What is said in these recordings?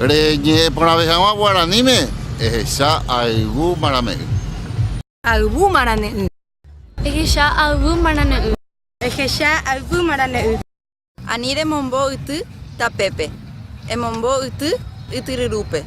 Reñe'ẽ porãve hag̃ua guaraníme, ehecha ayvu marame'ỹ. Ayvu marane'ỹ. Ehecha ayvu marane'ỹ. Ehecha ayvu marane'ỹ. Ani remombo yty tapépe. Emombo yty ytyryrúpe.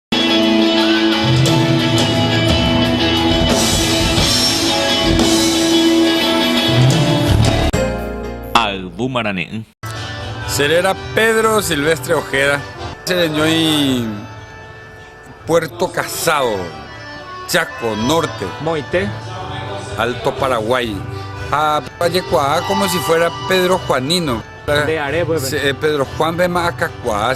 Ayvu marane'ỹ. Che réra Pedro Silvestre Ojeda. Che reñói Puerto Casado, Chaco Norte. Moite. Alto Paraguay. Ha pajekuaa como si fuera Pedro Juanino. Nde are peve. Pedro Juan pe ma akakuaa.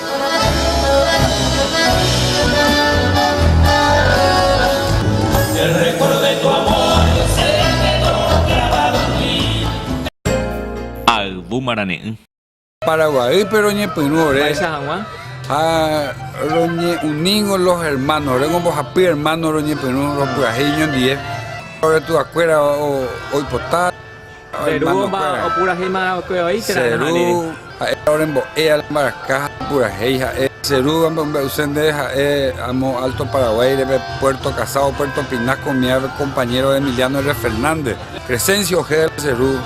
Ha yvu marane'ỹ. Paraguaýpe roñepyrũ ore ha roñe'uningo los hermanos, oréngo mbohapy hermano roñepyrũ ropyahẽ iñondive, oretu'akuéra oipota. Che ru omba opurahéima oke oĩ térã reha'ãne. Che ru ha'éva orembo'e ala mbaraka ha opurahéi ha'e. Che ru amombe'use ndéve ha'e amo Alto Paraguay reve Puerto Casao, Puerto Pinar komiáve compañero Emiliano R. Fernández. Crescencio Ojeda che ru.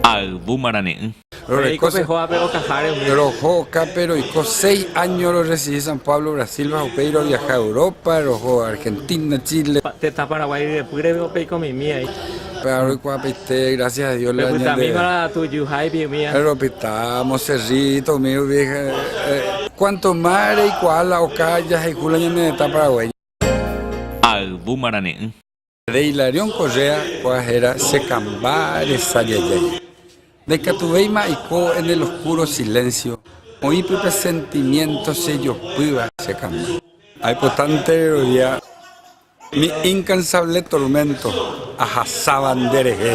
Ha yvúma rane'ỹ. Roiko pe hógape okaháre umi. Roho okápe roiko seis áño rorresidi San Pablo Brasilva upéi roviaha Europa, roho Argentina, Chile. Tetã Paraguái ryepýre peikomoimi aí. Péva roikuaapaite gracias a Dios la ñande. Pepytamíma la tujuháipi umi. Ropyta Monserrito umi rupi cuanto más reikuaa la oka jahayhu la ñane tetã Paraguái. Ayvu marane'ỹ. Nde Hilarión Correa ko'ã héra chekamba resa jajái. Ndaikatuvéima aiko en el oscuro silencio oĩ pype sentimiento chejopýva chekamba. Aipota nde rerovia mi incansable tormento ahasáva nderehe.